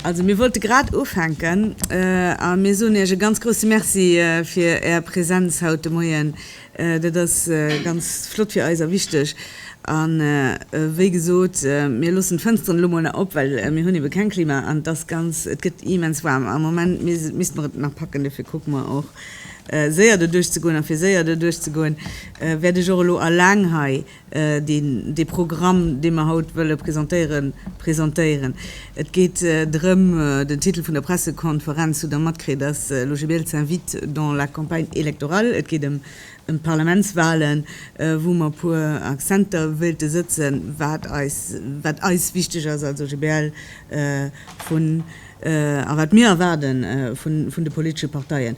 Also mir wollte grad ufänken a mir soen Iech e ganz grouse Merci fir Är Präsenz haut de Moien. Dat ass ganz flott fir eis a wichteg. A wéi gesot, mir loossen d'Fënsteren elo mol nach op, well mir hunn ebe keng Klima an et ass ganz, et gëtt immens waarm am Moment. Mir misst mer et nach packen, dofir kucke mer och, Séier doduerch ze goen. A fir séier doduerch ze goen, wäert ech och elo alleng hei dee Programm, dee mer haut wëlle presentéieren, presentéieren. Et geet drëm, den Titel vun der Pressekonferenz hutt Der matkritt, ass L'OGBL s'invite dans la campagne électorale. Et geet ëm d'Parlamentswalen, wou mer e puer Accenter wéilte sëtzen, wat eis, wat eis wichteg ass als OGBL, vun, a wat mir erwaarde vun de politesche Parteien.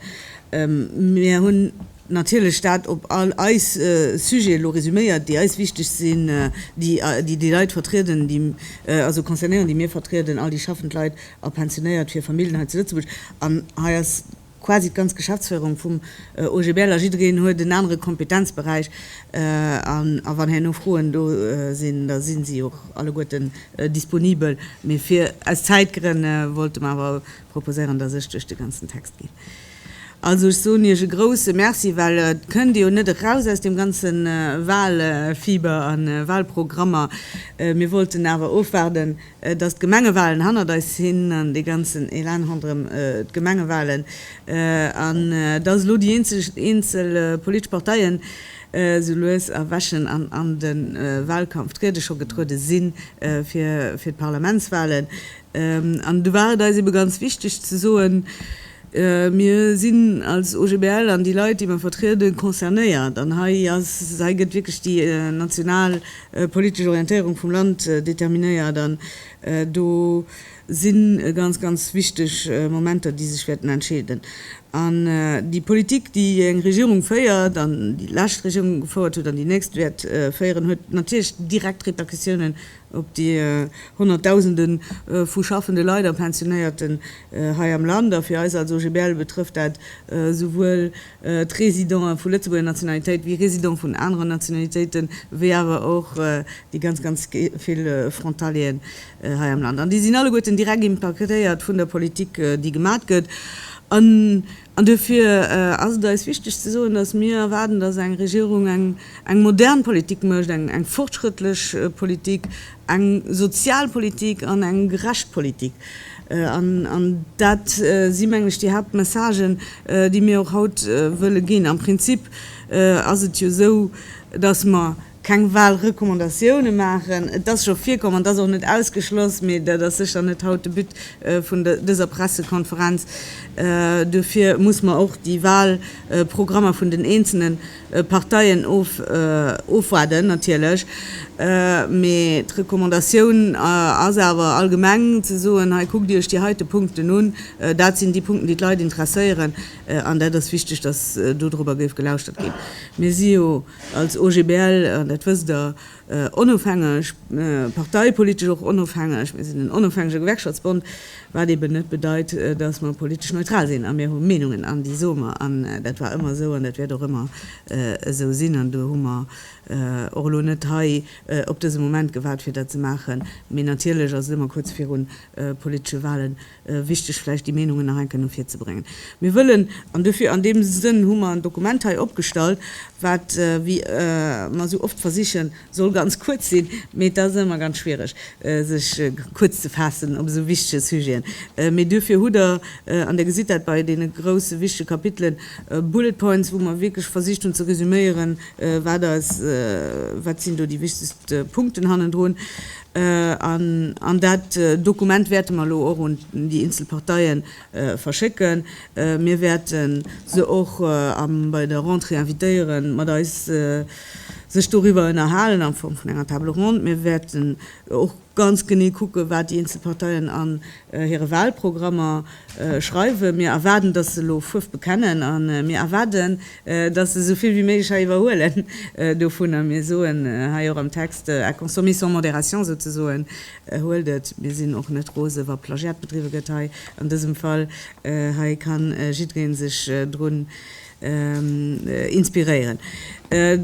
Mir hunn natierlech dat op all eis Sujete elo resuméiert, déi eis wichteg sinn, déi déi Leit vertrieden, déi also concernéieren, déi mir vertrieden, all déi schaffend Leit a Pensionéiert, fir Familljen hei zu Lëtzebuerg. An hei ass. Quasi d'ganz Geschäftsféierung vum OGBL a jiddereen huet en anere Kompetenzberäich. A wann herno Froen do sinn, da si si och alleguerten disponibel. Mee fir aus Zäitgrënn wollte mer awer proposéieren, dass ech duerch de ganzen Text ginn. Also ech soen Iech e grouse Merci, well et kënnt ee jo net eraus aus deem ganze Wahlfieber a Wahlprogrammer. Mir wollten awer ofwaarden. dass d'Gemengewalen hannert eis sinn an dee ganzen Elan ronderëm d'Gemengewalen, an dass elo déi eenzel politesch Parteien esou lues erwächen an an de Walkampf triede, scho getruede si fir d'Parlamentswalen. An do war et eis ebe ganz wichteg ze soen, Mir sinn als OGBL an déi Leit, déi mer vertrieden, concernéiert. An hei gëtt wierklech déi national politesch Orientéierung vum Land determinéiert. An do si ganz, ganz wichteg Momenter, déi sech wäerten entscheeden. An déi Politik, déi eng Regierung féiert, an déi lescht Regierung gefouert huet an déi nächst wäert féieren, huet natierlech direkt Repercussiounen op déi honnertdausende vu schaffende Leit a Pensionéierten hei am Land, a fir eis als OGBL betrëfft dat souwuel d'Residente vu Lëtzebuerger Nationalitéit wéi Residente vun aneren Nationalitéiten, wéi awer och déi ganz, ganz vill Frontalieren hei am Land. An déi sinn alleguerten direkt impaktéiert vun der Politik, déi gemat gëtt. An duerfir ass et eis wichteg ze soen, dass mir erwaarden, dass eng Regierung eng modern Politik mécht, eng fortschrëttlech Politik, eng sozial Politik an eng gerecht Politik. An dat si mengen ech déi Haaptmessagen, déi mir och haut wëlle ginn. Am Prinzip ass et jo esou, dass mer, keng Wahlrecommandatioune maachen. Et ass scho virkomm, an et ass och net ausgeschloss, mee dat ass sécher net haut de But vun dëser Pressekonferenz. Duerfir muss mer och déi Wahlprogrammer vun den eenzelne Parteien ofwaarden natierlech. Mee d'Recommandatioun ass awer allgemeng ze soen, hei kuckt Iech déi heite Punkten un, dat sinn déi Punkten, déi d'Leit interesséieren, an dat ass wichteg, dass do dorobber géif gelauschtert ginn. Mir si jo. Als OGBL, an dat wësst Der, onofhängeg, parteipolitesch och onofhängeg, mir sinn en onofhängege Gewerkschaftsbond, wat eben net bedeit, datt mer politesch neutral sinn. A mir hu Meenungen an déi soe mer. An dat war ëmmer esou an dat wäert och ëmmer esou sinn. An do hu mer och elo net hei op dëse Moment gewaart fir dat ze maachen. Mee natierlech ass et ëmmer kuerz virun politesche Wahlen. wichteg vläicht déi Meenungen nach eng Kéier no vir ze bréngen. Mir wëllen, an dofir, an deem Sënn hu mer en Dokument hei opgestallt, wat, wéi mer esou oft versichen, soll ganz kuerz sinn, mee et ass ëmmer ganz schwiereg sech kuerz ze faassen op esou wichtege Sujeten, mee duerfir hutt Der, an Der gesitt dat bei deene grousse wichtege Kapitelen, Bullet points, wou mer wierklech versicht hunn ze resüméieren, wat eis, wat sinn do déi wichtegst Punkten hannendrun. An dat Dokument wäerte mer elo och un déi eenzel Parteie verschécken. Mir wäerte se och bei der Rentrée invitéiere mat eis sech doriwwer ënnerhalen a Form vun enger Table ronde. Mir wäerten och ganz genee kucken, wat déi eenzel Parteien an hire Wahlprogrammer schreiwen. Mir erwaarden, dass se elo Fuerf bekennen a mir erwaarden, dass se esou vill wéi méiglech hei iwwerhuelen dovun. A mir soen hei och am Text, à consommer sans modération souzesoen, Huelt et! Mir sinn och net rose wa Plagiat bedriwwe gëtt hei an dësem Fall. Hei ka jiddweree sech drun inspiréieren.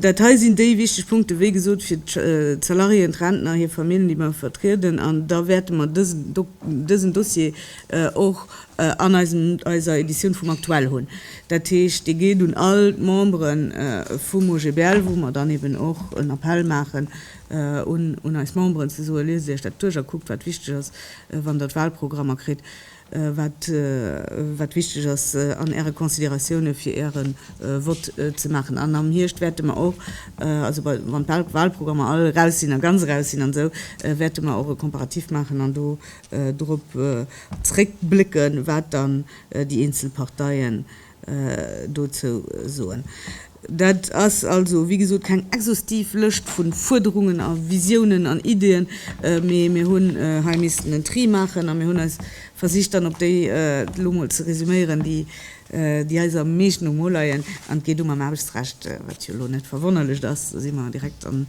Dat hei sinn déi wichteg Punkten, wéi gesot, fir d'Salariéen, d'Rentner, hir Famillen, déi mer vertrieden. An da wäerte mer dësen Dossier och an eiser Editioun vum Aktuell hunn. Dat heescht, dee geet un all d'Membere vum OGBL, wou mer dann eben och en Appell maachen un eis Memberen, ze soen, Liest Iech dat duerch a kuckt, wat wichteg ass, wann Der d'Wahlprogrammer kritt. wat wichteg ass an Äre Consideratioune fir Äre Vott ze maachen. An am Hierscht wäerte mer och, also wann d'Wahlprogrammer all eraus sinn a ganz eraus sinn an esou, wäerte mer och e Komparatif maachen an do drop zréckblécken, wat dann déi eenzel Parteien dozou soen. Dat ass also, wéi gesot, keng exhaustiv Lëscht vu Fuerderungen a Visiounen an Ideeën, mee mir hunn hei missten en Tri maachen a mir hunn eis versicht dann op déi elo mol ze resuméieren, déi eis am meeschten um Mo leien. An et geet u mam Aarbechtsrecht, wat jo elo net verwonnerlecht ass, do si mer direkt an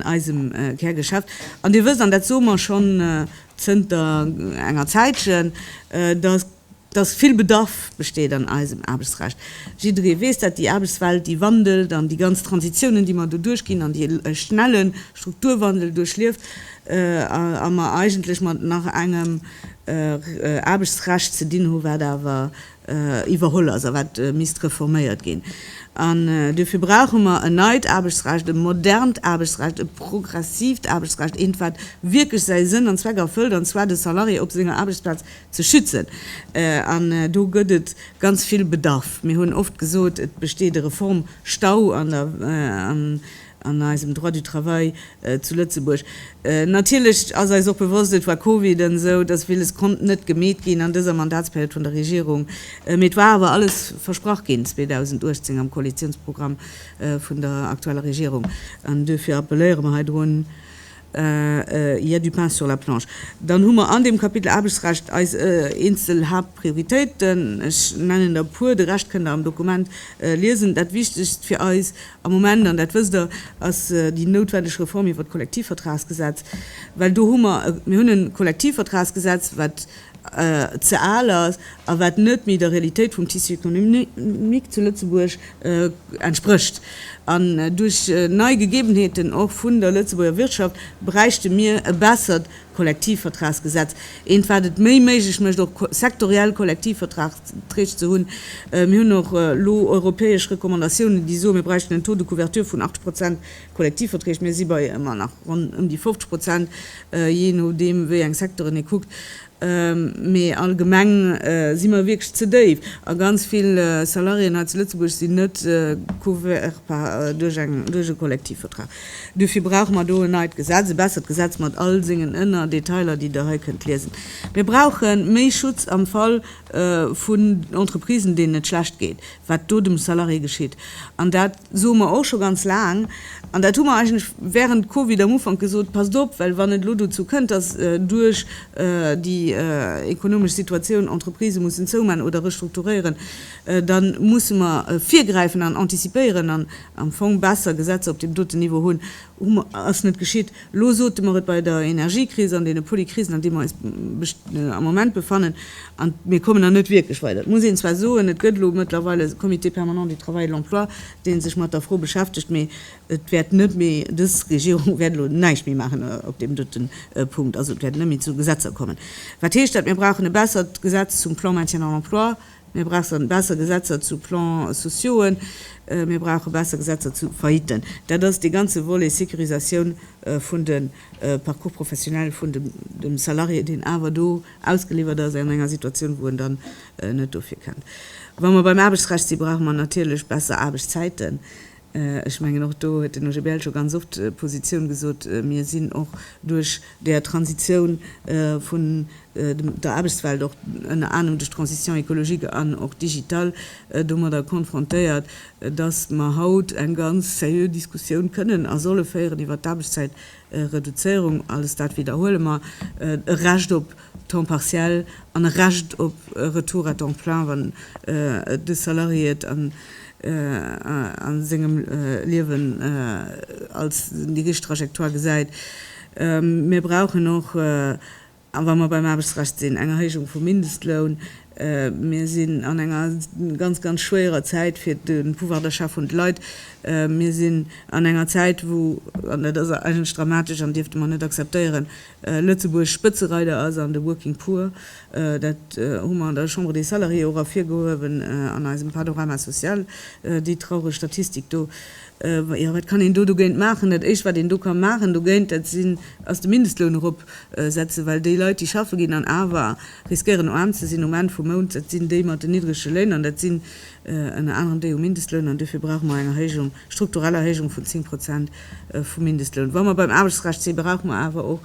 eisem Kärgeschäft. An Dir wësst, an dat soe mer schonn zënter enger Zäitchen, datt, dass vill Bedarf besteet an eisem Aarbechtsrecht. Jidderee weess dat, déi Aarbechtswelt, déi wandelt an déi ganz Transitiounen, déi mer do duerchginn an dee schnelle Strukturwandel duerchlieft a mer eigentlech mat nach engem Aarbechtsrecht ze dinn hu wat awer iwwerholl ass a wat misst reforméiert ginn. An duerfir brauche mer en neit Aarbechtsrecht, e modernt Aarbechtsrecht, e progressiivt Aarbechtsrecht, eent wat wierklech säi Sënn an Zweck erfëllt, an zwar de Salarié op senger Aarbechtsplaz ze schützen an do gëtt et ganz vill Bedarf. Mir hunn oft gesot, et besteet e Reformstau an der an eisem Droit du travail zu Lëtzebuerg. Natierlech ass eis och bewosst, et war Covid an esou, dass villes konnt net gemeet ginn an dëser Mandatsperiod vun der Regierung, mee et war awer alles versprach ginn 2018 am Koalitionsprogramm vun der aktueller Regierung an duerfir appelléiere mer heidrun, Il y a du pain sur la planche. Dann hu mer an deem Kapitel Aarbechtsrecht eis eenzel Haaptprioritéiten. Ech nennen der e puer, de Rescht kënnt Der am Dokument liesen. Dat Wichtegst fir eis am Moment, an dat wësst Der, ass déi noutwendeg Reform iwwert d'Kollektivvertragsgesetz, well do hu mer, mir hunn e Kollektivvertragsgesetz, wat ze al ass a wat net méi der Realitéit vum Tissu économique zu Lëtzebuerg entsprécht. An duerch nei Gegebenheeten och vun der Lëtzebuerger Wirtschaft bräichte mir e bessert Kollektivvertragsgesetz, eent wat et méi méiglech mécht och sektoriell Kollektivvertragstrecht ze hunn. Mir hunn och elo europäesch Recommandatiounen, déi soen, mir bräichten en Taux de couverture vun 80 Prozent. Kollektivverträg, mir si bei ëmmer nach ronn ëm déi 50 Prozent, jee nodeem wéi eng Secteuren ee kuckt, mee allgemeng si mer wierklech ze déif a ganz vill Salariéen hei zu Lëtzebuerg sinn net couvertbar duerch e Kollektivvertrag. Duerfir brauche mer do en neit Gesetz, e bessert Gesetz mat all sengen Ënnerdetailer, déi Der hei kënnt liesen. Mir brauche méi Schutz am Fall vun Entreprisen, deenen et schlecht geet, wat do dem Salarié geschitt. An dat soe mer och scho ganz laang. An dat hu mer eigentlech während Covid am Ufank gesot, Passt op, well wann et elo dozou kënnt, dass duerch déi ekonomesch Situatioun Entreprisë mussen zoumaachen oder restrukturéieren, da musse mer virgräifen an antizipéieren an am Fong besser Gesetzer op deem doten Niveau hunn, Hu mer, ass net geschitt. Elo sote mer et bei der Energiekris an deene Polykrisen, an deem mer eis am Moment befannen, an mir kommen der net wierklech weider. Et muss een zwar soen, et gëtt elo mëttlerweil e Comité permanent du travail et de l'emploi, dee sech mat der Fro beschäftegt, mee et wäert net méi, dës Regierung wäert elo näischt méi maachen op deem dote Punkt. Also et wäert net méi zu Gesetzer kommen. Wat heescht dat? Mir brauchen e bessert Gesetz zum Plan maintien dans l'emploi. Mir brauchen besser Gesetzer zu Plan-sociauxen, mir brauche besser Gesetzer zu Faillitten. Dat ass dee ganze Volet Sécurisatioun vun de Parcours professionnels vun dem Salarié, deen awer do ausgeliwwert ass an enger Situatioun, wou en dann net dofir kënnt. Wa mer beim Aarbechtsrecht sinn, brauche mer natierlech besser Aarbechtszäiten. Ech mengen, och do huet den OGBL scho ganz oft d'Positioun gesot, mir sinn och duerch där Transitioun vun der Aarbechtswelt, och ënner anerem duerch d'Transition écologique an och digital, domadder konfrontéiert, dass mer haut eng ganz seriö Diskussioun kënnen a solle féieren iwwert d'Aarbechtzäitreduzéierung. Alles dat widderhuele mer, e Recht op temps partiel an e Recht op Retour à temps plein, wann de Salarié et an a sengem Liewen als déi richteg Trajectoire gesäit. Mir brauchen och, a wa mer beim Aarbechtsrecht sinn, eng Erhéijung vum Mindestloun. Mir sinn an enger ganz, ganz schwéierer Zäit fir de Pouvoir d'achat vun de Leit. Mir sinn an enger Zäit, wou, an dat ass eigentlech dramatesch an dierfte mer net akzeptéieren, Lëtzebuerg Spëtzereider ass an de Working Poor. Dat hu mer an der Chambre des Salariés och ervirgehuewen an eisem Panorama social, déi traureg Statistik do. Jo, wat kann een do dogéint maachen? Dat Éischt, wat een do ka maachen dogéint, dat sinn, ass de Mindestloun eropsetzen, well déi Leit, déi schaffe ginn an awer riskéieren aarm ze sinn um Enn vum Mount, dat sinn déi mat den niddrege Léin an dat sinn ënner anerem déi um Mindestloun. An dofir brauche mer eng Erhéijung strukturell Erhéijung vun 10 Prozent vum Mindestloun. Wa mer beim Aarbechtsrecht sinn, brauche mer awer och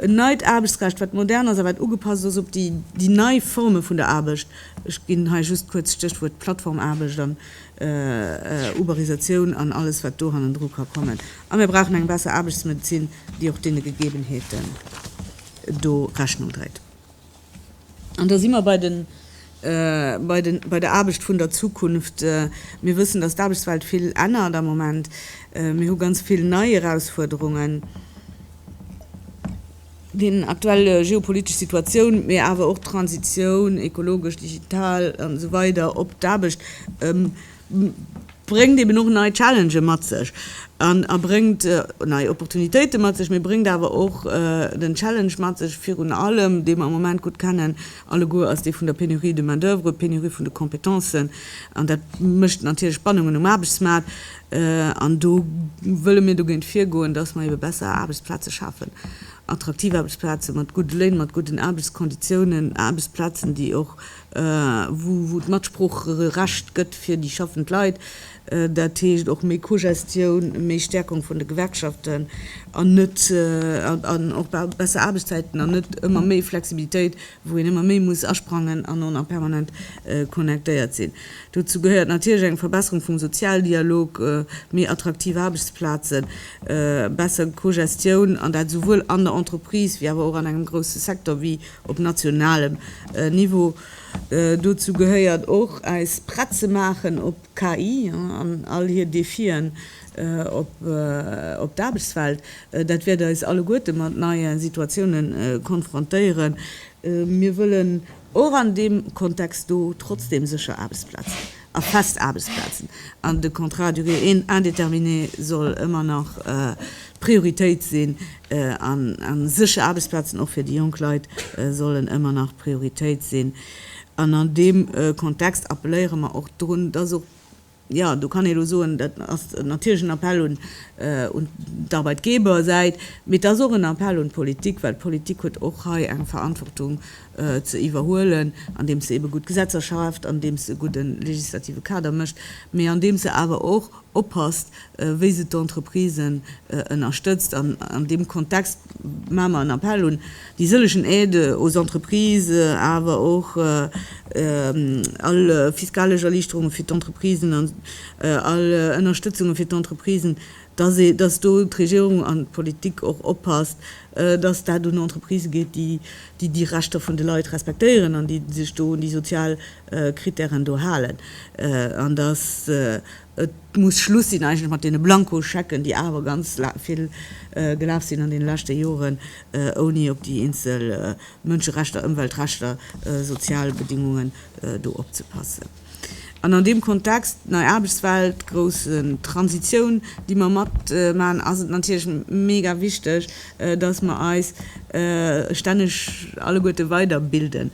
en neit Aarbechtsrecht, wat modern ass a wat ugepasst ass op déi nei Forme vun der Aarbecht. Ech ginn hei just kuerz d'Stéchwuert Plattformaarbecht an Uberisatioun an alles, wat do hannendru ka kommen. A mir brauchen eng besser Aarbechtsmedezin, déi och deene Gegebenheeten do Rechnung dréit. An da si mer bei den, bei den, bei der Aarbecht vun der Zukunft. Mir wëssen, dass d'Aarbechtswelt vill ännert am Moment. Mir hu ganz vill nei Erausfuerderungen, déi aktuell geopolitesch Situatioun, mee awer och d'Transitioun, ekologesch, digital an esou weider, op d'Aarbecht bréngt eben och nei Challengë mat sech an a bréngt nei Opportunitéite mat sech, mee bréngt awer och den Challenge mat sech, virun allem, dee mer am Moment gutt kennen alleguer, ass dee vun der Pénurie de main-d'oeuvre, Pénurie vun de Kompetencen, an dat mécht natierlech Spannungen um Aarbechtsmaart. An do wëlle mir dogéint virgoen, dass mer ebe besser Aarbechtsplaze schafen, attraktiv Aarbechtsplaze mat gudde Léin, mat gudden Aarbechtskonditiounen, Aarbechtsplazen, déi och wou et Matsproocherecht gëtt fir déi schaffend Leit, dat heescht och méi Cogestioun, méi Stärkung vun de Gewerkschaften an net, an och besser Aarbechtszäiten an net ëmmer méi Flexibilitéit, wou een ëmmer méi muss asprangen an on a permanent connectéiert sinn. Dozou gehéiert natierlech eng Verbesserung vum Sozialdialog, méi attraktiv Aarbechtsplazen, besser Cogestioun, an dat esouwuel an der Entreprise wéi awer och an engem grousse Secteur wéi op nationalem Niveau. Dozou gehéiert och eis prett ze maachen op KI an all hir Defien op d'Aarbechtswelt. Dat wäert eis alleguerte mat neie Situatiounen konfrontéieren. Mir wëllen och an deem Kontext do trotzdeem sécher Aarbechtsplazen. a fest Aarbechtsplazen. An de Contrat à durée indéterminée soll ëmmer nach d'Prioritéit sinn a sécher Aarbechtsplazen och fir déi jonk Leit sollen ëmmer nach d'Prioritéit sinn. An an deem Kontext appelléiere mer och drun, dass och, jo, do kann ee elo soen, dat ass natierlech en Appell un d'Arbeitgebersäit, mee et ass och en Appell un d'Politik, well d'Politik huet och hei eng Verantwortung ze iwwerhuelen, andeems se ebe gutt Gesetzer schaaft, andeems se e gudde legislative Kader mécht, mee andeems se awer och oppasst, wéi se d'Entreprisen ënnerstëtzt. An an deem Kontext maache mer en Appell un déi sëllegen Aides aux entreprises, awer och all fiskalesch Erliichterunge fir d'Entreprisen an all Ënnerstëtzunge fir d'Entreprisen, dass ee, dass do d'Regierung an d'Politik och oppasst, dass dat un Entreprisë geet, déi, déi déi Rechter vun de Leit respektéieren an déi sech do un déi sozial Kritären do halen, an dass et muss Schluss sinn eigentlech mat deene Blankoschecken, déi awer ganz vill gelaf sinn an deene leschte Joren, ouni op déi eenzel Mënscherechter, Ëmweltrechter, sozial Bedingungen do opzepassen. An an deem Kontext, nei Aarbechtswelt, grouss Transitioun, déi mer matmaachen, ass et natierlech mega wichteg, dass mer eis stänneg alleguerte weiderbilden.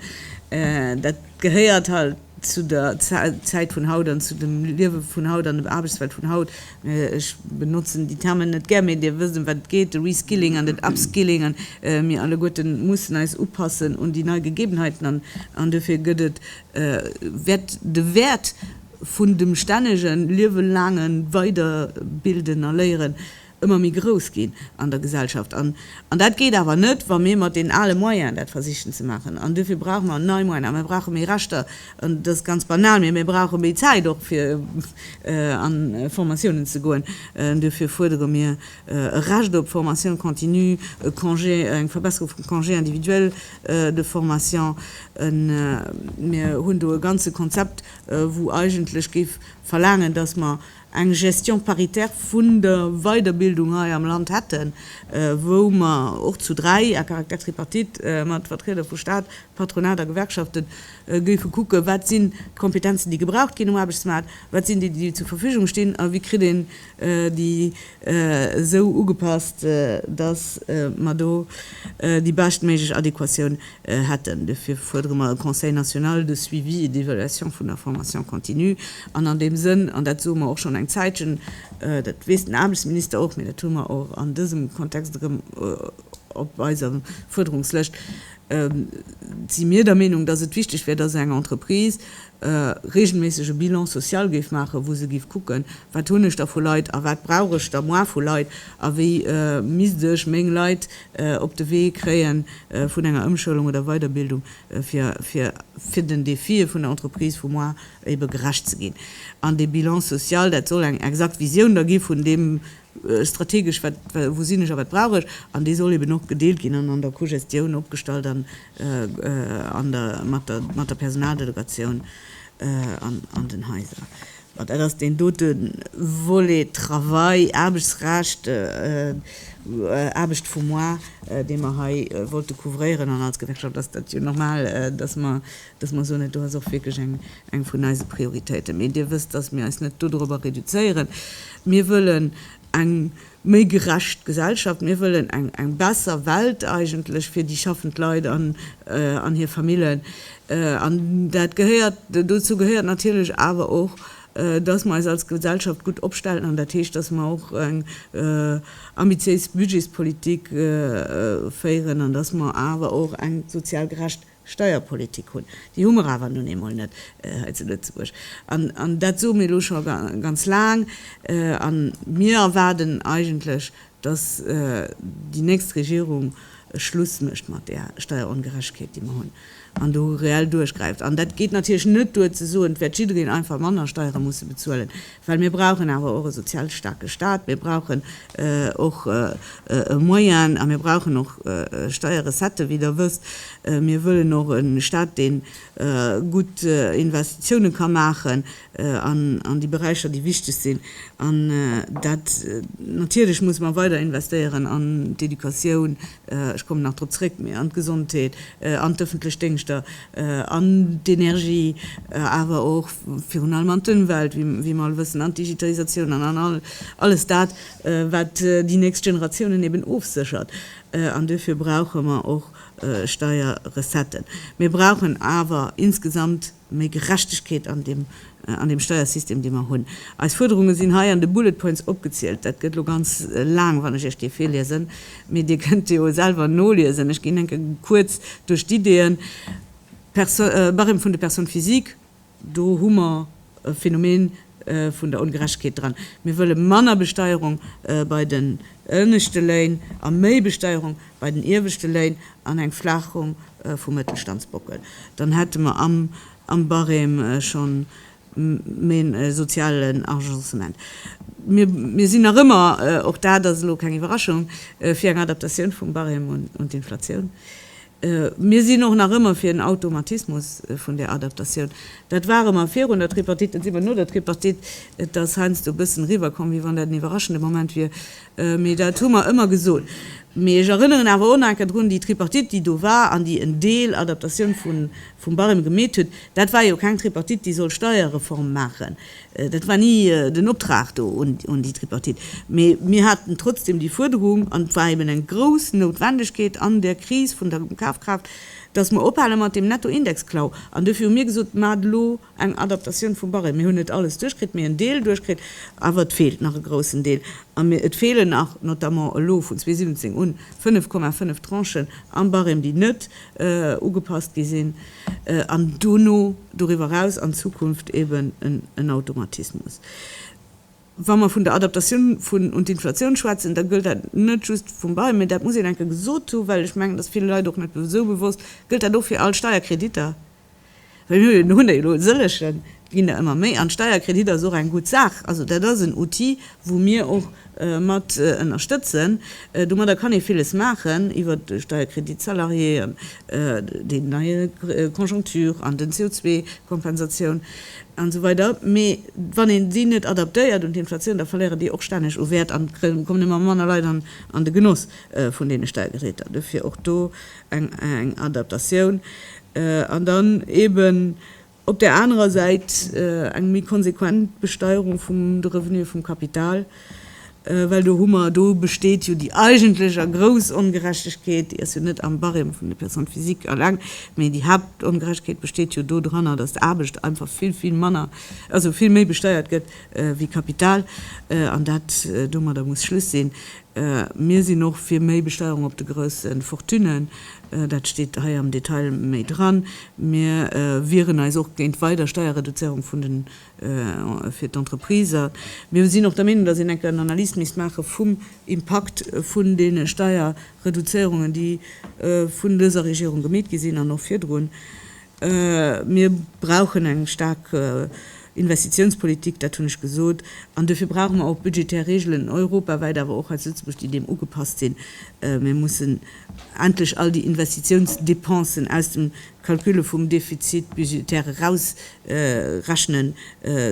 Dat gehéiert halt zu der Zäit vun haut an zu dem Liewe vun haut an der Aarbechtswelt vun haut. Ech benotzen déi Termen net gär, mee Dir wësst, ëm wat et geet, de Reskilling an den Upskilling. A mir alleguerte mussen eis upassen un déi nei Gegebenheiten an duerfir gëtt et wäert de Wäert vun dem stännege liewelaange Weiderbilden a Léieren ëmmer méi grouss ginn an der Gesellschaft. An dat geet awer net, wa mir mat den ale Moyenen dat versichen ze maachen. An duerfir brauche mer nei Moyenen. A mir brauche méi Rechter. An dat ass ganz banal, mee mir brauche méi Zäit och, fir an Formatiounen ze goen. Duerfir fuerdere mir e Recht op Formation continue, e Congé, eng Verbesserung vum Congé individuel de formation. Mir hunn do e ganze Konzept, wou eigentlech géif verlaangen, dass mer eng Gestion paritaire vun der Weiderbildung hei am Land hätten, wou mer och zu dräi, à caractère tripartite, mat Vertrieder vu Stat, Patronat a Gewerkschafte géife kucken, wat sinn d'Kompetenzen, déi gebraucht ginn um Aarbechtsmaart, wat sinn déi, déi zur Verfügung stinn a wéi kritt een déi esou ugepasst, dass mer do déi beschtméiglech Adéquatioun hätten. Dofir fuerdere mer e Conseil national de suivi et d'évaluation vun der Formation continue. An an deem Sënn, an dat soe mer och schonn eng Zäitchen, dat weess den Aarbechtsminister och, mee dat hu mer och an dësem Kontext erëm op eiser Fuerderungslëscht, si mir der Meenung, dass et wichteg wär, dass eng Entreprise e reegelméissege Bilan social géif maachen, wou se géif kucken, wat hunn ech da vu Leit a wat brauch ech da moar vu Leit a wéi misst ech meng Leit op de Wee kréie vun enger Ëmschoulung oder Weiderbildung, fir den Defie vun der Entreprise vu moar ebe gerecht ze ginn. An dee Bilan social, dat soll eng exakt Visioun da gi vun deem, strategesch, wat, wou sinn ech a wat brauch ech, an dee soll eben och gedeelt ginn an an der Cogestioun opgestallt an an der mat der mat der Personaldelegatioun an an den Haiser. Bon, dat ass deen dote Volet Travail, Aarbechtsrecht, Aarbecht vum Mois, dee mer hei wollte couvréieren. An als Gewerkschaft ass dat jo normal, dass mer dass mer soen, do ass och wierklech eng vun eise Prioritéiten. Mee Dir wësst, dass mir eis net dodorobber reduzéieren. Mir wëllen eng méi gerecht Gesellschaft, mir wëllen eng besser Welt eigentlech fir déi schaffend Leit an hir Famillen. An dat gehéiert, dozou gehéiert natierlech awer och, dass mer eis als Gesellschaft gutt opstellen. An dat heescht, dass mer och eng ambitiéis Budgetspolitik féieren an dass mer awer och eng sozial gerecht. Steierpolitik hunn. Déi hu mer awer nun eemol net hei zu Lëtzebuerg. An, an dat soe mir elo scho ganz laang, a mir erwaarden eigentlech, dass déi nächst Regierung e Schluss mécht mat där Steierongerechtegkeet, déi mer hunn, an do reell duerchgräift. An dat geet natierlech net duer ze soen, et wäert jiddereen einfach manner Steiere musse bezuelen. Well mir brauchen awer och e sozial staarke Stat, mir brauchen och e Moyen a mir brauchen och Steierrecetten, wéi Der wësst. Mir wëllen och e Stat, dee gutt Investitiounen ka maachen an déi Beräicher, déi wichteg sinn. An dat natierlech musse mer weider investéieren an d'Educatioun, ech kommen nach drop zréck, mee an d'Gesondheet, an d'ëffentlech Déngschter, an d'Energie, awer och virun allem an d'Ëmwelt, wéi mer all wëssen, an d'Digitalisatioun an an alles dat, wat déi nächst Generatiounen eben ofséchert. An duerfir brauche mer och Steierrecetten. Mir brauchen awer insgesamt. méi Gerechtegkeet an deem, an deem Steiersystem, dee mer hunn. Eis Fuerderunge sinn hei an de Bullet points opgezielt. Dat gëtt elo ganz laang, wann ech Iech déi virliesen, mee Dir kënnt déi jo selwer noliesen. Ech ginn enke kuerz duerch d'Ideeën. Perso, Barème vun de Personnes physiques, do hu mer e Phänomen, vun der Ongerechtegkeet dran. Mir wëlle manner Besteierung bei den ënneschte Léin a méi Besteierung bei den ieweschte Léin an eng Flaachung vum Mëttelstandsbockel. Dann hätte mer am Barème schonn en sozialen Agencement. Mir sinn nach ëmmer, och dat ass elo keng Iwwerraschung, fir eng Adaptatioun vum Barème un d'Inflatioun. Mir sinn och nach ëmmer fir en Automatismus vun där Adaptatioun. Dat ware mer virun der Tripartite, dat si mer no der Tripartite. Et ass heiansdo e bëssen eriwwerkomm, wéi wann dat en iwwerraschende Moment wier, mee dat hu mer ëmmer gesot. Mee ech erënneren awer och nach eng Kéier drun, déi Tripartite, déi do war an déi en Deel Adaptatioun vum Barème gemeet huet, dat war jo keng Tripartite, déi soll Steierreform maachen. Dat war ni den Optrag do un déi Tripartite, mee mir haten trotzdem déi Fuerderung, an et war eben eng grouss Noutwendegkeet an där Kris vun der Kafkraaft, dass mer ophale mat deem Nettoindexklau. An dofir hu mir gesot, Maacht elo eng Adaptatioun vum Barème. Mir hunn net alles duerchkritt, mee en Deel duerchkritt, awer et feelt nach e groussen Deel. A et feelen nach, notamment elo vun 2017 un, 5,5 Tranchen am Barème, déi net ugepasst gi sinn. an dono doriwwer eraus an Zukunft eben en Automatismus. Wa mer vun der Adaptatioun vun un d'Inflatioun schwätzen, da gëllt dat net just vum Bail, mä dat muss een enke gesot hunn, well ech mengen, et ass ville Leit och net esou bewosst, gëllt dat och fir all Steierkreditter, well mir hunn der jo elo e sëllegen, ginn der ëmmer méi, an d'Steierkredit ass och eng gutt Saach. Also dat ass en Outil, wou mir och mat ënnerstëtzen. Domadder kann ee villes maachen, iwwert de Steierkredit salarié an déi nei Conjoncture an den CO2-Kompensatioun an esou weider, mee wann een déi net adaptéiert un d'Inflatioun, da verléieren déi och stänneg u Wäert an et kommen ëmmer manner Leit an de Genoss vun deene Steiergeräter. Dofir och do eng Adaptatioun an dann eeben, Op där anerer Säit eng méi konsequent Besteuerung vum de Revenuë vum Kapital, well do hu mer, do besteet jo déi eigentlech a grouss Ongerechtegkeet, déi ass jo net am Barème vun de Personnes physiques eleng, mee déi Haaptongerechtegkeet besteet jo do dranner, datt Aarbecht einfach vill, vill manner, also vill méi besteiert gëtt wéi Kapital. An dat, domadder muss Schluss sinn. Mir sinn och fir méi Besteuerung op de grousse Fortunen. Dat steet hei am Detail méi dran. Mir wieren eis och géint weider Steierreduzéierung vun den, fir d'Entrepriser. Mir sinn och der Meenung, dass een enker en Analys misst maache vum Impakt vun deene Steierreduzéierungen, déi vun dëser Regierung gemeet gi sinn an och virdrun. Mir brauchen eng staark Investitiounspolitik, dat hunn ech gesot, an duerfir brauche mer och budgetär Regeln europawäit, awer och hei zu Lëtzebuerg, déi deem ugepasst sinn. Mir mussen endlech all déi Investitiounsdepensen aus dem Calcule vum Defizit budgétaire erausrechnen,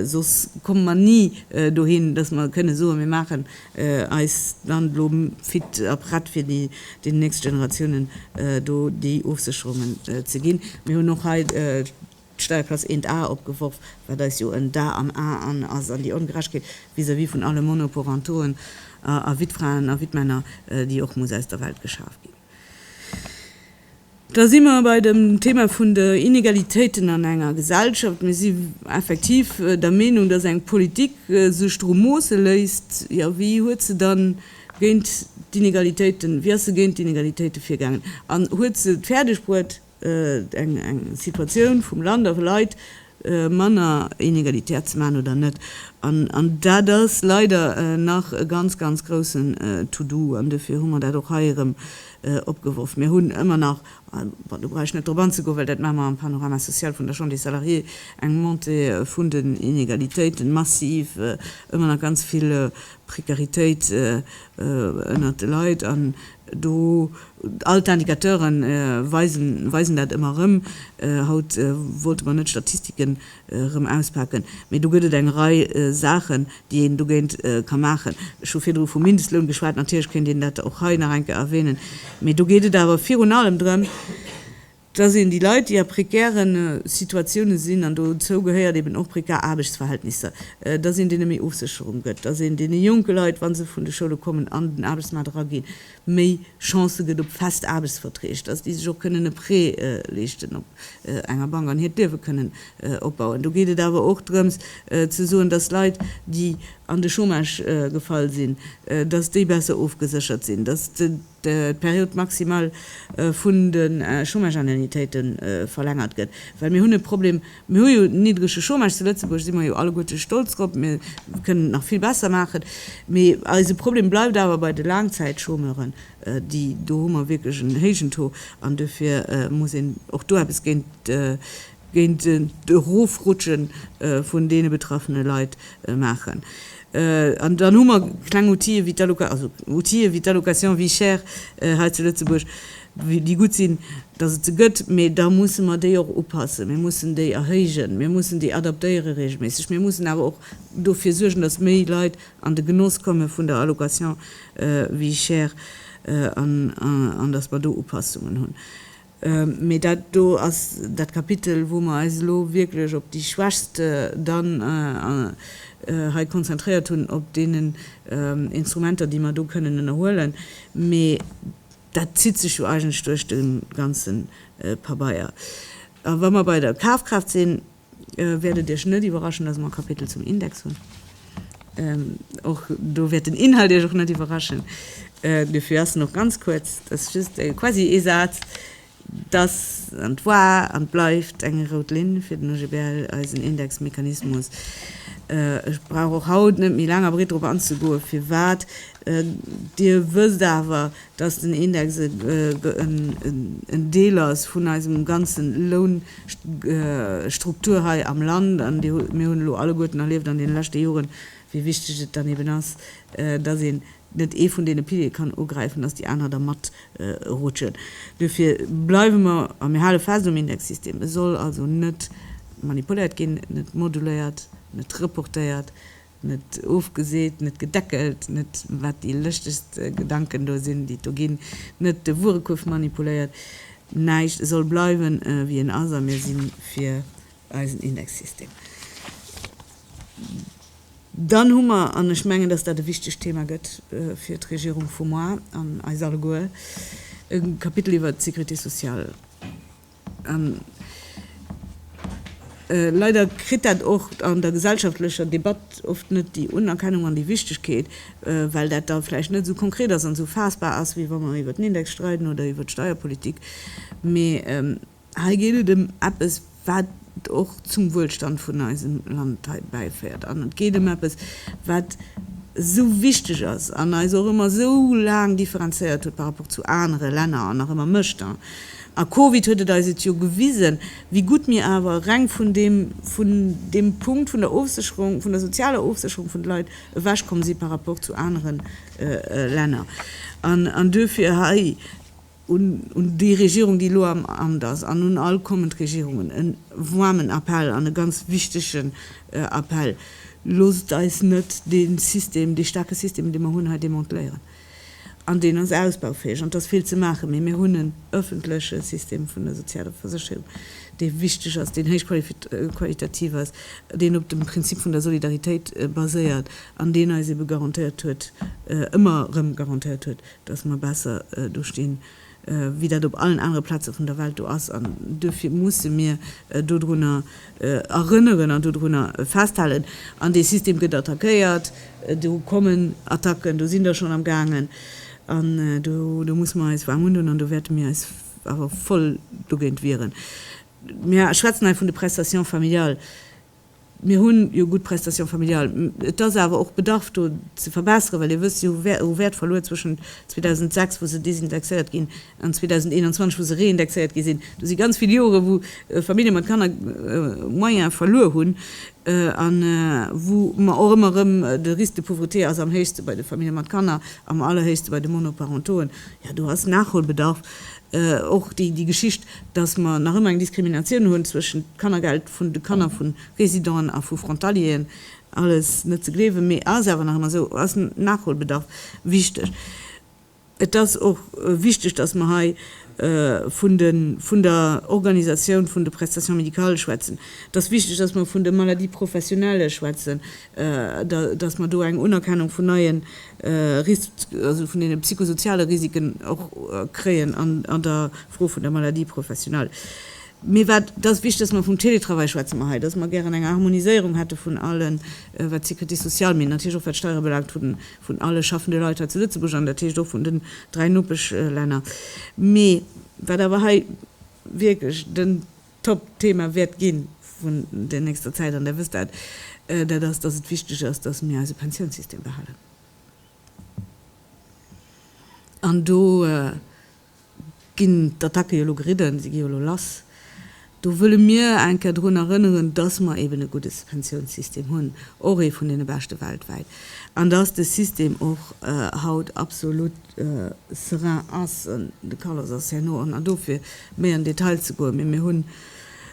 soss komme mer ni dohin, dass mer kënne soen, mir maachen eis Land elo fit a prett fir den nächste Generatiounen do déi Ofsécherungen ze ginn. Mir hunn och hei d'Steierklass eent A opgeworf, wat eis jo en Dar am A ass an déi Ongerechtegkeet vis-à-vis vun alle Monoporentoen a Wittfraen a Wittmänner, déi och muss aus der Welt geschaaft ginn. Da si mer bei dem Thema vun de Inegalitéiten an enger Gesellschaft. Mir si effektiv der Meenung, dass eng Politik sech doru moosse léisst, jo, wéi huet se dann géint d'Inegalitéiten, wéi ass se géint d'Inegalitéiten virgaangen an huet se et fäerdegbruet, eng Situatioun vum Land a vu Leit manner inegalitär ze maachen oder net. An dat ass leider nach e ganz, ganz groussen To-do an dofir hu mer dat och hei erëm opgeworf. Mir hunn ëmmer nach, bon, do brauch ech net drop anzegoen, well dat maache mer am Panorama social vun der Chambre des Salariés, eng Montée vun den Inegalitéiten, massiv, ëmmer nach ganz vill Prekaritéit ënnert de Leit an Do all d'Indicateure weisen dat ëmmer erëm, haut wollte mer net Statistiken erëm auspaken, mee do gëtt et eng Rei Saachen, déi een dogéint ka maachen. Ech hu virdru vum Mindestloun geschwat, natierlech kéint een dat och hei nach eng Kéier erwähnen, mee do geet et awer virun allem drëm, dass een déi Leit, déi a prekäre Situatiounen sinn, an dozou gehéiert eben och prekär Aarbechtsverhältnisser, dass een deene méi Ofsécherung gëtt, dass een deene jonke Leit, wa se vun de Schoule kommen, an den Aarbechtsmaart eraginn, méi Chancë gëtt op fest Aarbechtsverträg, dass déi sech och kënnen e Prêt leeschten op enger Bank an hiert Liewe kënnen opbauen. Do geet et awer och drëms ze soen, dass Leit, déi an de Chômage gefall sinn, dass déi besser ofgeséchert sinn, dass de. d'Periode maximale vun de Chômage-Indemnitéite verlängert gëtt, well mir hunn e Problem, mir hu jo niddrege Chômage zu Lëtzebuerg, si mer jo alleguerte stolz drop, mir kënnen et nach vill besser maachen, mee eise Problem bleift awer bei de Laangzäitchômeuren, déi, do hu mer wierklech en héijen Taux an dofir muss een och do eppes géint géint d'Erofrutsche vun deene betraffene Leit maachen. An dann hu mer kleng Outile wéi d'Alloca-, also Outile wéi d'Allocation vie chère hei zu Lëtzebuerg, déi gutt sinn, datt et se gëtt, mee da musse mer déi och upassen. Mir mussen déi erhéijen, mir mussen déi adaptéiere reegelméisseg, mir mussen awer och dofir suergen, datt méi Leit an de Genoss komme vun der Allocation vie chère an datt mer do Upassungen hunn. Mee dat do ass dat Kapitel, wou mer eis elo wierklech op déi Schwächst dann hei konzentréiert hunn, op deenen Instrumenter, déi mer do kënnen ënnerhuelen. Mee dat zitt sech jo eigentlech duerch de ganze Pabeier. A wa mer bei der Kafkraaft sinn, wäert et Iech net iwwerraschen, dass mer e Kapitel zum Index hunn. Och do wäert den Inhalt Iech och net iwwerraschen. Dofir ass en och ganz kuerz, dat ass just quasi ee Saz, dass, an et war an et bleift eng rout Linn fir den OGBL, eisen Indexmechanismus. Ech brauch och haut net méi laang a breet drop anzegoen, firwat. Dir wësst awer, dass den Index en Deel ass vun eisem ganze Lounstruktur hei am Land. An mir hunn elo alleguerten erlieft an deene leschte Joren, wéi wichteg et dann eben ass, dass een net ee vun deene Piliere kann ugräifen, dass déi aner da matrutschen. Duerfir bleiwe mer a mir hale fest um Indexsystem. E soll also net manipuléiert ginn, net moduléiert, net reportéiert, Net ofgeseet, net gedeckelt, net wat déi lëschtest Gedanken do sinn, déi et do ginn, net de Wuerekuerf manipuléiert, näischt, e soll bleiwen, wéi en ass a mir si fir eisen Indexsystem. Dann hu mer, an ech mengen, dass dat e wichtegt Thema gëtt fir d'Regierung vu moar an eis alleguer, e Kapitel iwwert d'Sécurité sociale. An leider kritt dat och an der gesellschaftlecher Debatt oft net déi Unerkennung an déi Wichtegkeet, well dat da vläicht net esou konkret ass an esou faassbar ass, wéi wa mer iwwer den Index streiden oder iwwer d'Steierpolitik. Mee hei geet et ëm eppes, wat och zum Wuelstand vun eisem Land hei bäiféiert an et geet ëm eppes, wat esou wichteg ass an eis och ëmmer esou laang differenzéiert huet par rapport zu anere Länner an nach ëmmer mécht. A Covid huet et eis et jo gewisen, wéi gutt mir awer reng vun deem, vun deem Punkt vun der Ofsécherung, vun der sozialer Ofsécherung vun de Leit ewechkomm si par rapport zu anere Länner. An duerfir hei. un déi Regierung, déi elo am Amt ass, an un all kommend Regierungen e waarmen Appell an e ganz wichtegen Appell, Loosst eis net dee System, dee staarke System, dee mer hunn, hei demanteléieren. An deen ass ausbaufäeg an et ass vill ze maachen, mee mir hunn en öffentleche System vun der sozialer Versécherung, dee wichteg ass, deen héichqualitativ ass, deen op dem Prinzip vun der Solidaritéit baséiert an deen eis ebe garantéiert huet, ëmmer erëm garantéiert huet, dass mer besser do stinn, wéi dat op allen anere Plaze vun der Welt do ass. An duerfir musse mir dodrunner erënneren an dodrunner festhalen. An dee System gëtt attackéiert, do kommen Attacken, do sinn der schonn am gaangen. An do musse mer eis waarm undoen an do wäerte mir eis awer voll dogéint wieren. Mir schwätzen hei vun de Prestations familiales. Mir hunn jo gutt Prestations familiales. Et ass awer och Bedarf do ze verbesseren, well Dir wësst, si hu Wäert verluer zwëschent 2006, wou se désindexéiert ginn, an 2021, wou se reindexéiert gi sinn. Do si ganz vill Joren, wou Famillje mat Kanner Moyen verluer hunn a wou mer och ëmmer erëm, de Risque de pauvreté ass am héichste bei de Famillje mat Kanner, am allerhéichste bei de Monoparentoen. Jo, do ass Nachholbedarf. Och déi Geschicht, dass mer nach ëmmer eng Diskriminatioun hunn zwëschent Kannergeld, vun de Kanner vu Residenten a vu Frontalieren, alles net ze gleewen, mee ass awer nach ëmmer esou, ass Nachholbedarf wichteg. Et ass och wichteg, dass mer hei vun de vun der Organisatioun vun de Prestations médicales schwätzen. Et ass wichteg, dass mer vun de Maladies professionnelles schwätzen, dass mer do eng Unerkennung vun neie Ris also vun deene psychosoziale Risiken och kréien an der Fro vun der Maladie professionelle. Mee wat ass wichtig, dass mer vum Télétravail schwätze mer hei, dass mer gären eng Harmoniséierung hätte vun allen, wat d'Sécurité sociale, mee natierlech och wat d'Steiere belaangt, vun alle schaffende Leit hei zu Lëtzebuerg an dat heescht och vun den dräi Nopeschlänner. Mee wat awer hei wierklech den Top-Thema wäert gi vun der nächster Zäit, an Der wësst dat, dat ass, dass et wichtig ass, dass mir eise Pensiounssystem behalen. An do. ginn d'Attacke jo elo geridden, si gi jo elo lass, do wëlle mir eng Kéier drun erënneren, dass mer eben e gudde Pensiounssystem hunn, och ee vun deene beschte weltwäit, an dass de System och haut absolut serein ass. De Carlos ass herno an dofir méi an Detail ze goen, mee mir hunn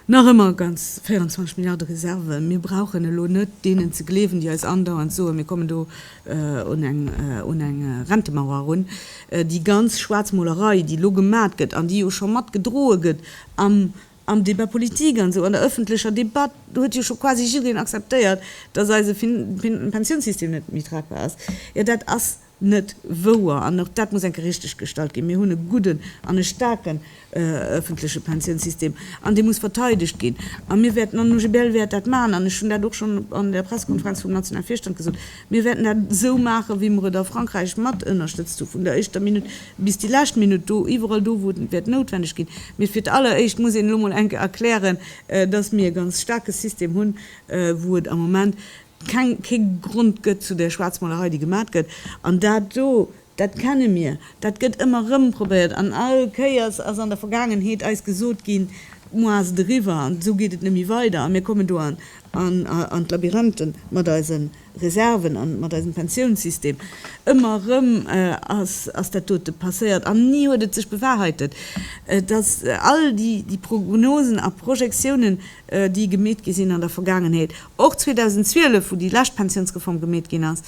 Nach ëmmer ganz 24 Milliarde Reserven. Mir brauchen elo net deenen ze gleewen, déi eis andauernd soen, mir kommen do un eng Rentemauer erun. Déi ganz Schwaarzmolerei, déi elo gemat gëtt an déi jo scho mat gedroe gëtt am Débat politique an esou an der öffentlecher Debatt, do huet jo scho quasi jiddereen acceptéiert, dass eise Pensiounssystem net méi tragbar ass, jo dat ass. net wouer an och dat muss enke richteg gestallt ginn. Mir hunn e gudden an e staarken öffentleche Pensiounssystem an dee muss verteidegt ginn a mir wäerten an OGBL wäert dat maachen an ech hunn dat och schonn an der Pressekonferenz vum nationale Virstand gesot, mir wäerten dat esou maachen, wéi mer et a Frankräich matënnerstëtzt hu vun der éischter Minutt bis déi lescht Minutt do, iwwerall do, wou et wäert noutwendeg ginn. Mee fir d'alleréischt muss een elo mol enke erklären, dass mir e ganz staarke System hunn, wou et am Moment keng, kee Grond gëtt zu där Schwaarzmolerei, déi gemat gëtt. An dat do, dat kenne mir, dat gëtt ëmmer erëm probéiert. An all Kéiers ass an der Vergaangenheet eis gesot ginn, Muer ass et eriwwer an esou geet et net méi weider a mir kommen do an, an, an d'Labyrinthe mat eise Reserven a mat eisem Pensiounssystem. Ëmmer erëm ass, ass dat dote passéiert an ni huet et sech bewahrheitet. Et ass all déi, déi Prognosen a Projektiounen, déi gemeet gi sinn an der Vergaangenheet, Och 2012, wou déi lescht Pensiounsreform gemeet ginn ass,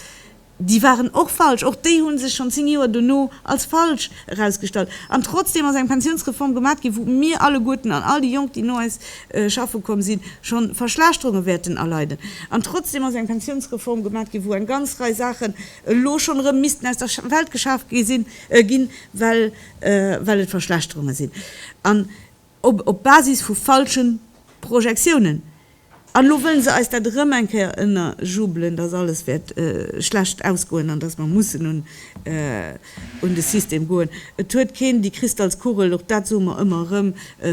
déi waren och falsch. Och déi hu sech schonn 10 Joer dono als falsch erausgestallt. An trotzdeem ass eng Pensiounsreform gemat ginn, wou mir alleguerten an all déi Jonk, déi no eis schaffe komm sinn, schonn Verschlechterunge wäerten erleiden. An trotzdeem ass eng Pensiounsreform gemat ginn, wou eng ganz Rei Saachen elo schonn erëm missten aus der Welt geschaaft ginn, well et Verschlechterunge sinn. Op op Basis vu falschen Projektiounen. An elo wëllen se eis dat erëm eng Kéier ënnerjubelen, dass alles wäert schlecht ausgoen an dass mer mussen un un de System goen. Et huet keen déi Kristallskugel, och dat soe mer ëmmer erëm,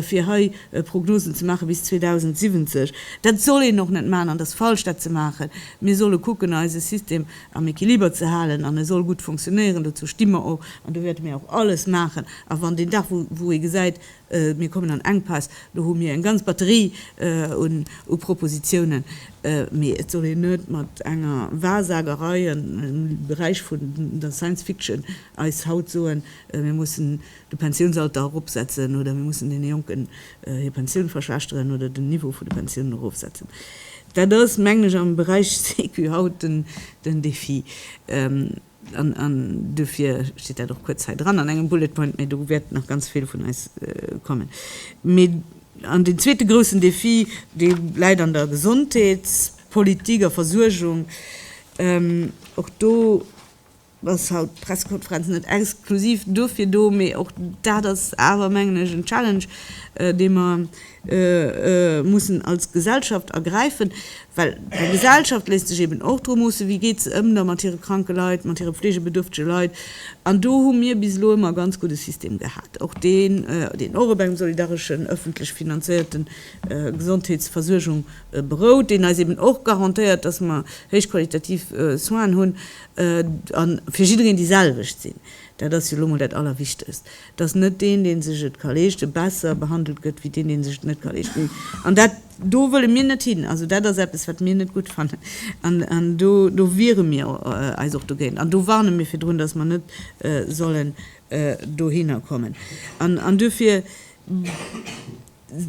fir hei Prognosen ze maache bis 2070. Dat soll een och net maachen an et ass falsch dat ze maachen. Mir solle kucken eise System am Equiliber ze halen an e soll gutt funktionéieren. Dozou sti mer och an do wäerte mir och alles maachen. A wann deen Dag wou wou ee gesäit, Mir kommen an Enkpäss. Do hu mir eng ganz Batterie u Propositionen, mee et soll een net mat enger Wahrsagerei am Beräich vun der Science Fiction eis haut soen, mir mussen de Pensiounsalter eropsetzen oder mir mussen deene Jonken hir Pensioun verschlechteren oder den Niveau vun de Pensiounen erofsetzen. Dat ass, mengen ech, am Beräich Sécu haut den Défi. An dofir steet dat och kuerz hei dran an engem Bullet point, mä do wäert nach ganz vill vun eis kommen. An deen zweete groussen Defi, dee läit an der Gesondheetspolitik a Versuergung. Och do ass haut d'Pressekonferenz net exklusiv dofir do, mä och dat ass awer, mengen ech, en Challenge, dee mer, mussen als Gesellschaft ergräifen, well eng Gesellschaft léisst sech eben och dru moossen, wéi geet se ëm da mat hire kranke Leit, mat hire pflegebedürftege Leit. An do hu mir bis elo ëmmer e ganz gudde System gehat, och deen, deen och op engem solidareschen, öffentlech finanzéierte Gesondheetsversuergung berout, deen eis eben och garantéiert, dass mer héichqualitativ Soinen hunn a fir jiddereen déi selwecht sinn. Dat ass jo elo mol dat Allerwichtegst. dass net deen, dee sech et ka leeschten, besser behandelt gëtt wéi deen, deen sech et net ka leeschten. An dat do wëlle mir net hin. Also dat ass eppes, wat mir net gutt fannen. An do, do wiere mir eis och dogéint. An do warne mir virdrun, dass mer net sollen dohinner kommen. An duerfir.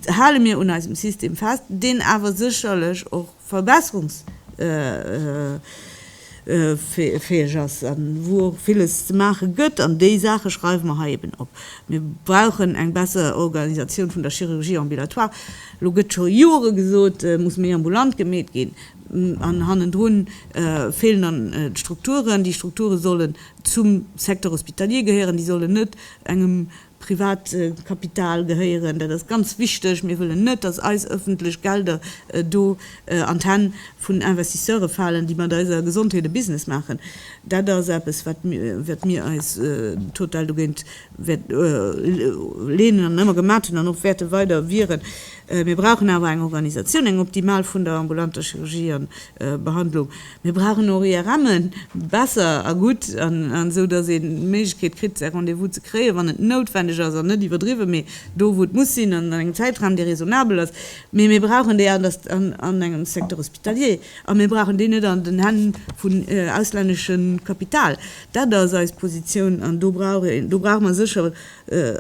hale mir un eisem System fest, deen awer sécherlech och verbesserungsfäeg ass a wou och villes ze maache gëtt. An déi Saache schreiwe mer hei eben op. Mir brauchen eng besser Organisatioun vun der Chirurgie ambulatoire. Elo gëtt scho Jore gesot, et muss méi ambulant gemeet ginn an hannendru feelen dann d'Strukturen. Déi Strukture sollen zum Secteur hospitalier gehéieren, déi sollen net engem Privatkapital gehéieren. Dat ass ganz wichteg. Mir wëllen net, dass eis öffentlech Gelder do an d'Hänn vun Investisseure falen, déi mat eiser Gesondheet e Business maachen. Dat ass eppes, wat mir eis total dogéint leenen an ëmmer gemat hunn an och wäerte weider wieren. Mir brauchen awer eng Organisatioun, eng optimal vun der ambulanter Chirurgie a Behandlung. Mir brauchen och IRMen, besser a gutt, an esou dass een d'Méiglechkeet kritt säi Rendez-vous ze kréien, wann et noutwendeg ass an net iwwerdriwwen, mee do wou et muss sinn an an engem Zäitraum dee raisonnabel ass. Mee mir brauchen déi an der an engem Secteur hospitalier a mir brauchen déi net an den Hänn vun auslänneschem Kapital. Dat ass eis Positioun an do brauch een do brauche mer sécher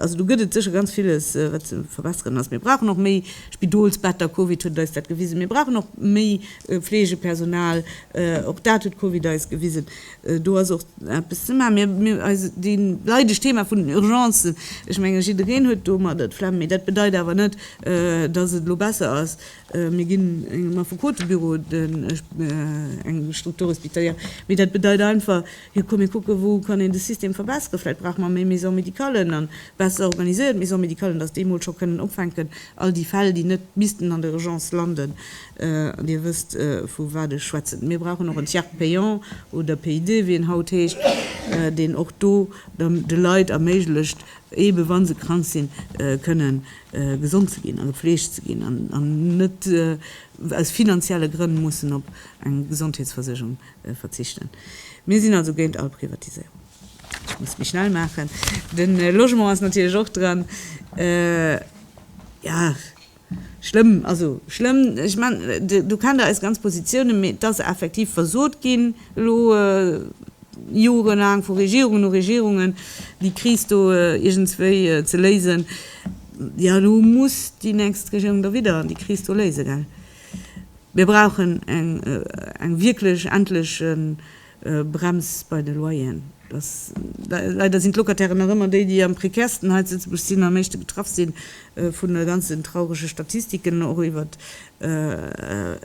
Also do gëtt et sécher ganz villes, wat ze verbesseren ass. Mir brauchen och méi Spidolsbetter, Covid huet eis dat gewisen. Mir brauchen och méi Fleegepersonal, och dat huet Covid eis gewisen. Do ass och eppes ze maachen. Eis dee leidesch Thema vun den Urgencen, ech menge jiddereen huet domadder d'Flemm, mee dat bedeit awer net, datt et elo besser ass. Mir ginn engem Affekotebüro eng Structure hospitalière, mee dat bedeit einfach, Jo, komm mir kucken, wou kann een de System verbesseren. Vläicht brauche mer méi Maison médicalen a besser organiséiert Maison médicalen, dass déi mol scho kënnen opfänken, all déi Fäll, déi net missten an der Urgence landen. An Dir wësst, vu wat ech schwätzen. Mir brauchen och en Tiers payant oder PID, wéi en haut heescht, deen och do de Leit erméiglecht, eebe wa se krank sinn, kënne gesond ze ginn a gepflegt ze ginn an net aus finanzielle Grënn mussen op eng Gesondheetsversécherung verzichten. Mir sinn also géint all Privatiséierung. Ech muss méi schnell maachen. De Logement ass natierlech och dran. Jo, schlëmm, also schlëmm. Ech mengen, do kennt Der eis ganz Positiounen. Mee et ass effektiv versot ginn elo jorelaang vu Regierungen no Regierungen, déi Kris do iergendswéi ze léisen. Jo, elo muss déi nächst Regierung da widder déi Kris do léisen, gell? Mir brauchen eng wierklech endlech Brems bei de Loyeren. Leider sinn d'Locatairen nach ëmmer déi, déi am prekärsten hei zu Lëtzebuerg sinn, am meeschte betraff si vun de ganzen traurege Statistiken, och iwwer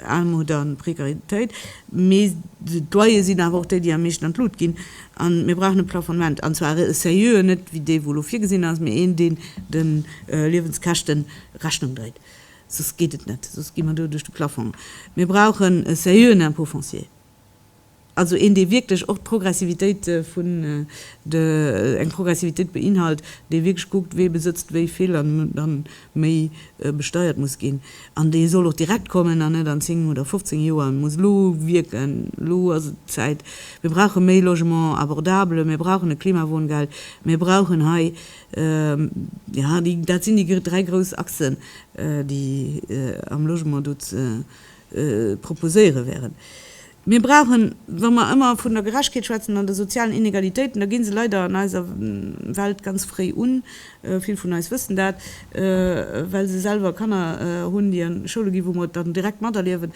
Aarmut a Prekaritéit. Mee d'Loyere sinn awer och déi, déi am meeschten an d'Lut ginn. A mir brauchen e Plafonnement, an zwar e seriöen, net wéi dee wou elo virgesinn ass, mee een, deen de Liewenskäschte Rechnung dréit. Soss geet et net, soss gi mer do duerch de Plaffong. Mir brauchen e sérieuxen Impôt foncier, also een, dee wierklech och d'Progressivitéit vun de, eng Progressivitéit beinhalt, dee wierklech kuckt, wee besëtzt wéi vill an dann méi besteiert muss ginn. An dee soll och direkt kommen an net an zéng oder fofzéng Joer muss elo wierken. Elo ass et d'Zäit. Mir brauche méi Logement abordable, mir brauchen e Klimawohngeld, mir brauchen hei, Jo, dat sinn déi dräi grouss Achsen, déi am Logement do ze proposéiere wären. Mir brauchen, wa mer ëmmer vun der Gerechtegkeet schwätzen an de sozialen Inegalitéiten, da gi se leider an eiser Welt ganz fréi un, vill vun eis wëssen dat, well se selwer Kanner hunn, déi an Schoule ginn, wou mer et dann direkt materliewen.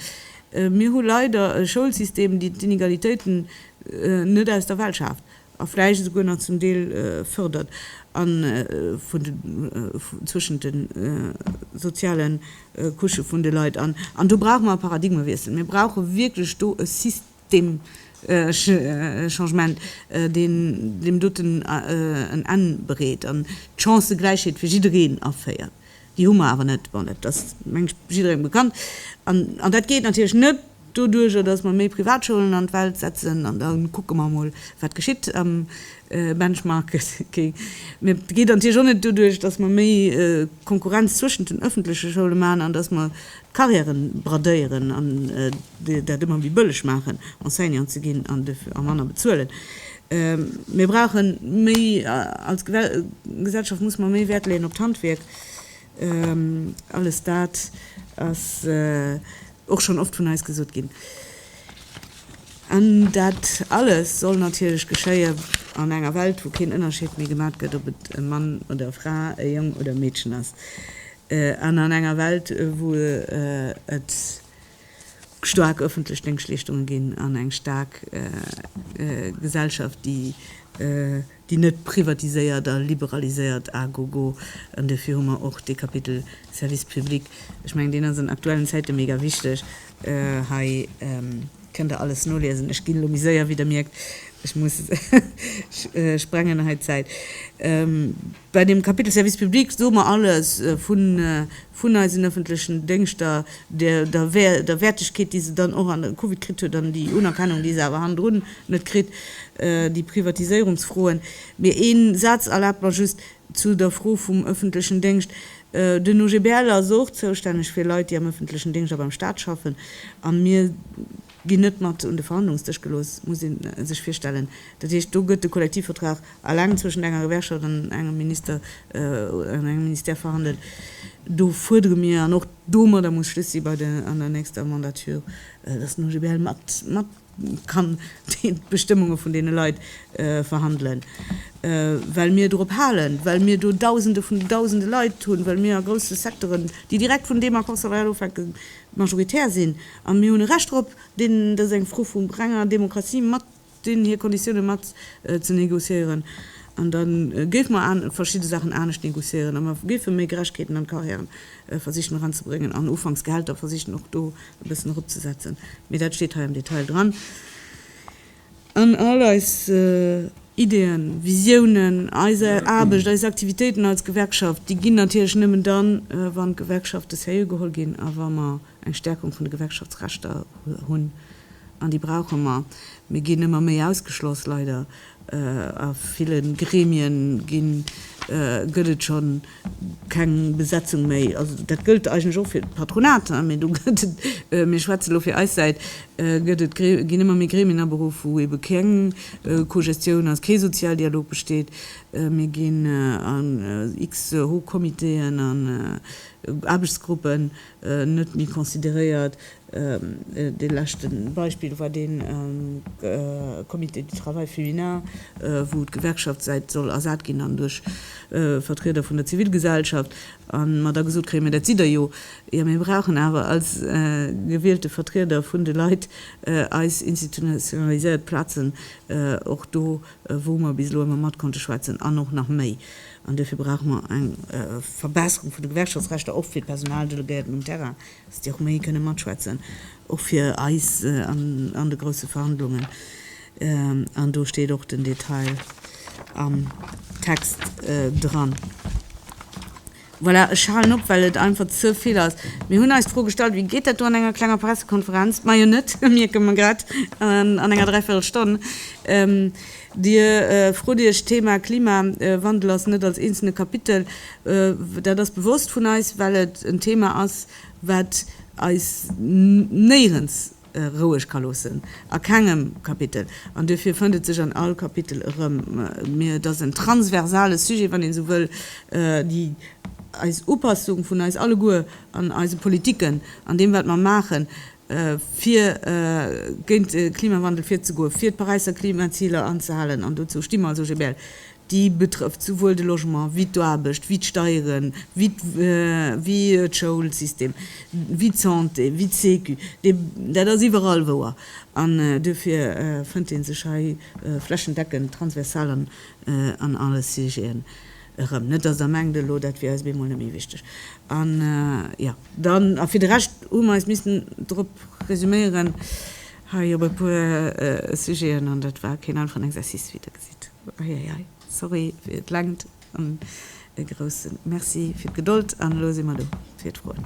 Mir hu leider e Schoulsystem, deen d'Inegalitéiten net aus der Welt schaaft. a vläicht esouguer nach zum Deel fördert, a vun de, zwëschent de soziale Couchë vun de Leit. An do brauche mer e Paradigmewiessel. Mir brauche wierklech do e systemesche Changement, deen deem doten en Enn bereet an d'Chancëgläichheet fir jiddereen aféiert. Déi hu mer awer net. Bon, dat ass, meng ech, jidderengem bekannt. An, an dat geet natierlech net doduerjer, datt mer méi Privatschoulen an d'Welt setzen an da kucke mer emol, wat geschitt am Benchmarking. Mä et geet natierlech och net doduerch, datt mer méi Konkurrenz zwëschent den öffentleche Schoule maachen an datt mer Carrièren bradéieren an dat ëmmer méi bëlleg maachen, Enseignant ze ginn an duerfir a manner bezuelen. Mir brauche méi, als Gesellschaft musse mer méi Wäert leeën op d'Handwierk. Alles dat ass och schonn oft vun eis gesot ginn. An dat alles soll natierlech geschéien an enger Welt, wou keen Ënnerscheed méi gemat gëtt, ob et e Mann oder e Fra, e Jong oder e Meedchen ass. An an enger Welt, wou et staark öffentlech Déngschleeschtunge ginn an eng staark Gesellschaft, déi net privatiséiert a liberaliséiert à gogo, an duerfir hu mer och dee Kapitel Service public, ech mengen, deen ass an aktuellen Zäite mega wichteg. Hei kënnt Der alles noliesen. Ech ginn elo méi séier, wéi Der mierkt. Ech muss, ech sprengen hei d'Zäit. Bei dem Kapitel Service public soe mer alles vun eisen öffentlechen Déngschter, der Wäertegkeet, déi se dann och an der Covid kritt huet an déi Unerkennung, déi se awer hannendrun net kritt, déi Privatiséierungsfroen. Mee ee Saz erlaabt mer just zu der Fro vum öffentlechen Déngscht. Den OGBL ass och zoustänneg fir Leit, déi am öffentlechen Déngscht a beim Stat schaffen, a mir, ginn net mat un de Verhandlungsdësch gelooss, muss ee sech virstellen. Dat heescht, do gëtt de Kollektivvertrag eleng zwëschent enger Gewerkschaft an engem Minister an engem Ministère verhandelt. Do fuerdere mir, an och domadder muss Schluss si bei der an der nächster Mandature, dass den OGBL mat mat kann d'Bestëmmunge vun deene Leit verhandelen, well mir dorop halen, well mir do Dausende vun Dausende Leit hunn, well mir a grousse Secteuren, déi direkt vun deem Accord salarial ofhänken, majoritär sinn, a mir hunn e Recht drop, deenen, dat ass eng Fro vu renger Demokratie, mat deenen hir Konditiounen mat ze négociéieren. An da géife mer verschidde Saachen anescht négociéieren a mer géife méi Gerechkeeten an d'Carrièren versichen eranzebréngen an ufanks d'Gehälter versichen och do e bëssen eropzesetzen. Mee dat steet hei am Detail dran. An all eis Ideeën, Visiounen, eis Aarbecht, eis Aktivitéiten als Gewerkschaft, déi ginn natierlech nëmmen dann, wann d'Gewerkschafte sérieux geholl ginn a wa mer eng Stärkung vun de Gewerkschaftsrechter hunn. An déi brauche mer. Mir ginn ëmmer méi ausgeschloss, leider. A ville Gremien gëtt et schonn. Keng Besetzung méi, also dat gëllt eigentlech och fir d'Patronat, hein, mee do gëtt et, mir schwätzen elo fir eis Säit, gëtt et, ginn ëmmer méi Gremien aberuff, wou ebe keng Cogestioun ass, kee Sozialdialog besteet. Mir ginn an x-Hochcomitéen an Aarbechtsgruppen. net méi consideréiert. Dee leschte Beispill war dee Comité du travail féminin, wou d'Gewerkschaftssäit soll ersat ginn an duerch Vertrieder vun der Zivilgesellschaft, a mer da gesot kréien, mä dat sidd Der jo, jo mir brauchen awer als gewielte Vertrieder vun de Leit eis institutionaliséiert Plazen och do, wou mer bis elo ëmmer mat konnte schwätzen an och nach méi. An duerfir brauche mer eng Verbesserung vun de Gewerkschaftsrechter, och fir d'Personaldelegéierten um Terrain, dass déi och méi kënne matschwätzen, och fir eis an de grouse Verhandlungen. An do steet och den Detail am Text dran. Voilà, ech halen op, well et einfach ze vill ass. Mir hunn eis d'Fro gestallt, wéi geet dat do an enger klenger Pressekonferenz? Majo net, mierke mer grad, an enger dräivierel Stonn. Dir frot Iech, d'Thema Klimawandel ass net als eenzelne Kapitel, dat ass bewosst vun eis, well et en Thema ass, wat eis néierens, roueg ka loossen a kengem Kapitel, an duerfir fënnt et sech an all Kapitel erëm, mee et ass en transversale Sujet, wann ee sou wëll, déi eis Upassung vun eis alleguer an eise Politiken, an deem wat mer maachen, fir géint de Klimawandel virzegoen, fir d'Paräisser Klimaziler anzehalen, an dozou sti mer als OGBL, Déi betrëfft souwuel de Logement wéi d'Aarbecht, wéi d'Steieren, wéi wéi de Schoulsystem, wéi d'Santé, wéi d'Sécu. Dee, dat ass iwwerall wouer. An duerfir fënnt ee sech hei flächendeckend, transversal an an alle Sujeten erëm. Net, dass Der mengt elo, dat wier eis op eemol net méi wichteg. A jo, dann, a fir de Rescht hu mer eis missten drop resuméieren hei op e puer Sujeten, an dat war keen einfachen Exercice, wéi Der gesitt. Eieiei, sorry fir d'Längt an e grousse Merci fir d'Gedold. An elo si mer do fir d'Froen.